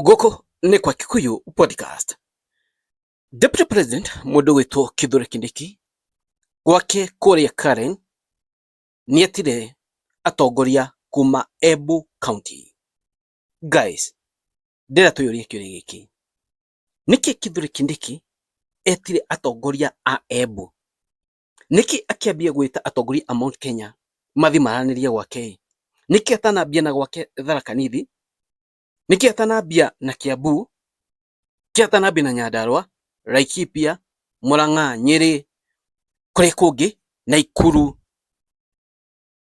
gũkũ nĩ kwa Kikuyu podcast Deputy President mũndũ wĩtwo Kithure Kindiki gwake kũrĩa Karen nĩetire atongoria kuma Embu County guys ndĩra twĩyũrie kĩũria gĩkĩ nĩkĩ Kithure Kindiki etire atongoria a Embu nĩkĩ akĩambia gwĩta atongoria a Mount Kenya mathi maranĩrie gwake nĩkĩ atanambia na gwake Tharaka Nithi Nĩ Kĩatanambia na Kiambu, Kĩatanambia na Nyandarua, Laikipia, Murang'a, Nyeri, kũrĩ kũngĩ Naikuru,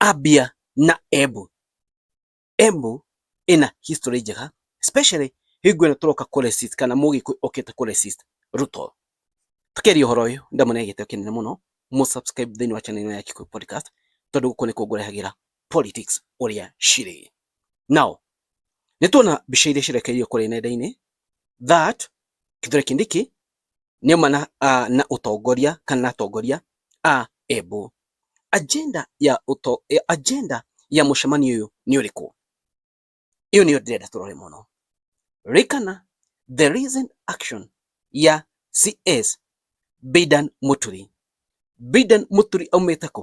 Abia na Embu. Embu ĩna history njega especially hingo ĩno tũroka kũ resist kana mũgĩkũyũ okĩte kũ resist Ruto. Tũkĩaria ũhoro ũyũ ndamũneire gĩtĩo kĩnene mũno, mũ subscribe thĩinĩ wa channel ĩno ya Gĩkũyũ Podcast tondũ gũkũ nĩkuo ngũrehagĩra politics ũrĩa cirĩ. Now, nĩ tuona mbica iria cirekereirio kũrĩ nenda-inĩ that Kithure Kindiki nĩ uma na, uh, na ũtongoria kana na atongoria a Embu. Agenda ya uto, eh, agenda ya mũcemanio ũyũ nĩ ũrĩkũ? Ĩyo nĩyo ndĩrenda tũrore mũno. Rĩkana the recent action ya CS Bidan Muturi. Bidan Muturi aumĩte kũ?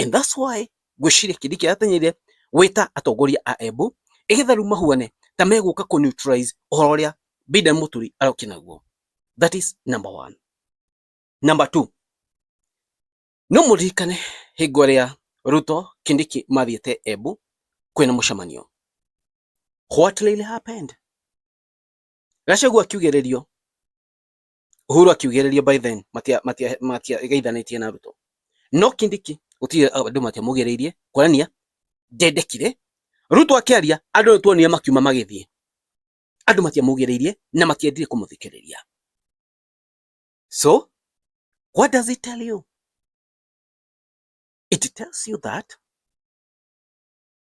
And that's why ngwĩciria kĩndĩ kĩrateng'erire wĩta atongoria a Embu ĩgetha rĩu mahuane ta megũka kũ neutralize ũhoro ũrĩa Bidan Mũturi arokire naguo. That is number one. Number two, no mũririkane hingo ĩrĩa Ruto Kindiki mathiĩte Embu kwĩna mũcemanio. What really happened? Gachagua akiugĩrĩrio Uhuru akiugĩrĩrio by then matia matia matia geithanitie na Ruto no kindiki gutire andu matia mugiriirie kwanania ndendekire Ruto akiaria andu tuonire makiuma magithie andu matia mugiriirie na matiendire kumuthikiriria so what does it tell you it tells you that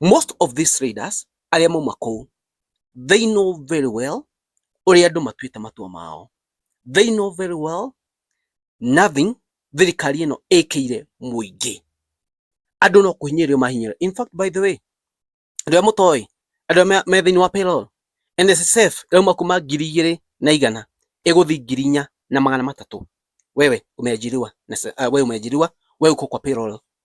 most of these leaders arĩa mauma kũu they know very well ũrĩa andũ matuĩte matua mao they know very well nothing thirikari ĩno ĩkĩire mũingĩ andũ no kũhinyĩrĩrio mahinyĩrĩrio in fact by the way andũ arĩa mũtoĩ andũ arĩa me thĩinĩ wa payroll NSSF ĩrauma kuma ngiri igĩrĩ na igana ĩgũthi ngiri inya na magana matatũ wewe umeajiriwa na uh, wewe umeajiriwa wewe uko kwa payroll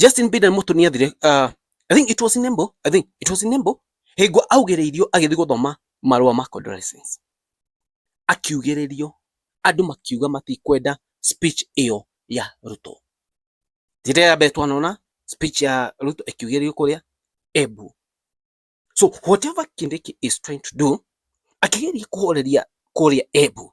Justin Biden mũtũ nĩ athire uh, I think it was in Embo I think it was in Embo hingo augĩrĩirio agĩthiĩ gũthoma marũa ma condolences akiugĩrĩrio andũ makiuga matikwenda speech ĩyo ya Ruto njĩra ya mbere twanona speech ya Ruto ĩkiugĩrĩrio kũrĩa Embu so whatever Kindiki is trying to do akĩgeria kũhoreria kũrĩa Embu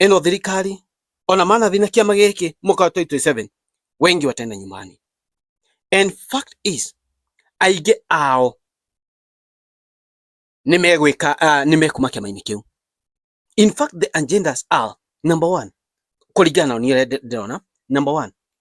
ĩno thirikari ona manathi na kĩama gĩkĩ mwaka wa 2027 wengi watenda nyumani. And fact is aingĩ ao nĩ megwĩka uh, nĩ mekuma kĩama-inĩ kĩu. In fact the agendas are number one, kũringana na niĩ ndĩrona, number one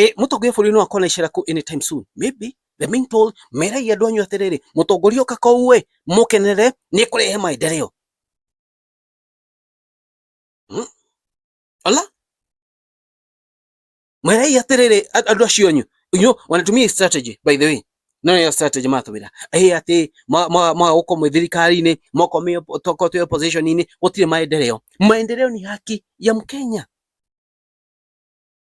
e, mutongoria bũrũri no akona icera ku anytime soon maybe the being told merai andũ anyu atĩrĩrĩ mũtongoria ũka kũu ĩ mũkenere nĩ kũrehe maendeleo hmm? ala merai atĩrĩrĩ andũ acio anyu you know, wanatumia strategy by the way no nä strategy matå ra ä atä magåkå mwä thirikari-inä moko toko twä opposition-inä gå tirä maendeleo maendeleo ni haki ya mkenya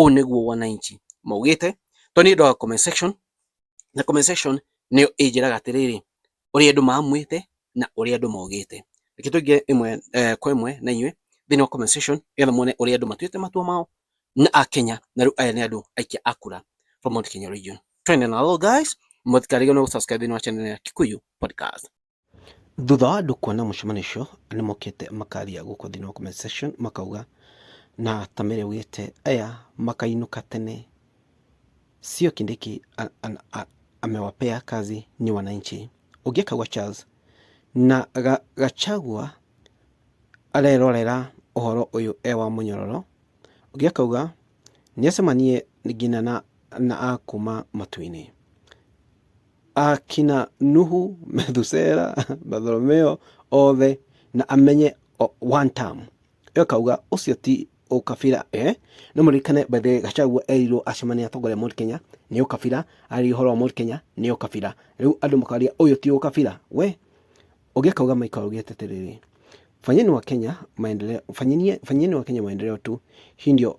Ũũ nĩguo wananchi maugĩte, tondũ niĩ ndoga comment section, na comment section nĩyo ĩnjĩraga atĩrĩrĩ, ũrĩa andũ mamwĩte na ũrĩa andũ maugĩte. Reke tũingĩre ĩmwe kwa ĩmwe na inyuĩ thĩinĩ wa comment section nĩgetha muone ũrĩa andũ matuĩte matua mao na Akenya, na rĩu aya nĩ andũ aikia a kura from Mount Kenya region. Twende na roll guys, mũtikarĩgwo nĩ gũ subscribe thĩinĩ wa channel ya Kikuyu Podcast. Thutha wa andũ kuona mũcemanio ũcio, nĩ mokĩte makaria gũkũ thĩinĩ wa comment section makauga na ta mĩrĩ augĩte aya makainũka tene, sio Kindiki a- a- a- amewapea kazi ni wananchi. Ũngĩ akauga Charles na ga- Gachagua arerorera ũhoro ũyũ e wa mũnyororo. Ũngĩ akauga nĩ acemanie nginya na, na a kuma matu-inĩ. akina Nuhu, Methusela, Bartholomeo othe na amenye o- one time ĩyo kauga ũcio ti ũkabira eh? nĩ mũririkane by the way gacagua erirwo acemania na atongoria a Mount Kenya nĩ ũkabira arĩ ũhoro wa Mount Kenya nĩ ũkabira rĩu andũ makaria ũyũ ti ũkabira we ũngĩ akauga maika augĩte atĩrĩrĩ fanyeni wa Kenya maendeleo fanyeni fanyeni wa Kenya maendeleo tu hii ndio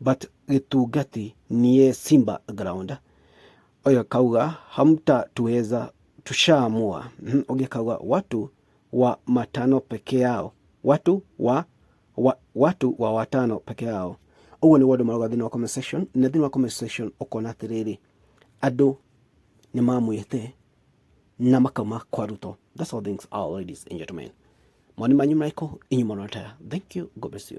but gĩtungati niĩ Simba ground ũyũ akauga hamta tuweza tushaamua Mhm, ũngĩ akauga watu wa matano peke yao watu wa, wa watu wa watano peke yao ũguo nĩguo andũ marauga thĩinĩ wa comment section na thĩinĩ wa comment section ũkona atĩrĩrĩ andũ nĩ mamwĩte na makauma kwa ruto that's all things are ladies and gentlemen moni manyu marĩkũ inyuĩ mũrona taya thank you god bless you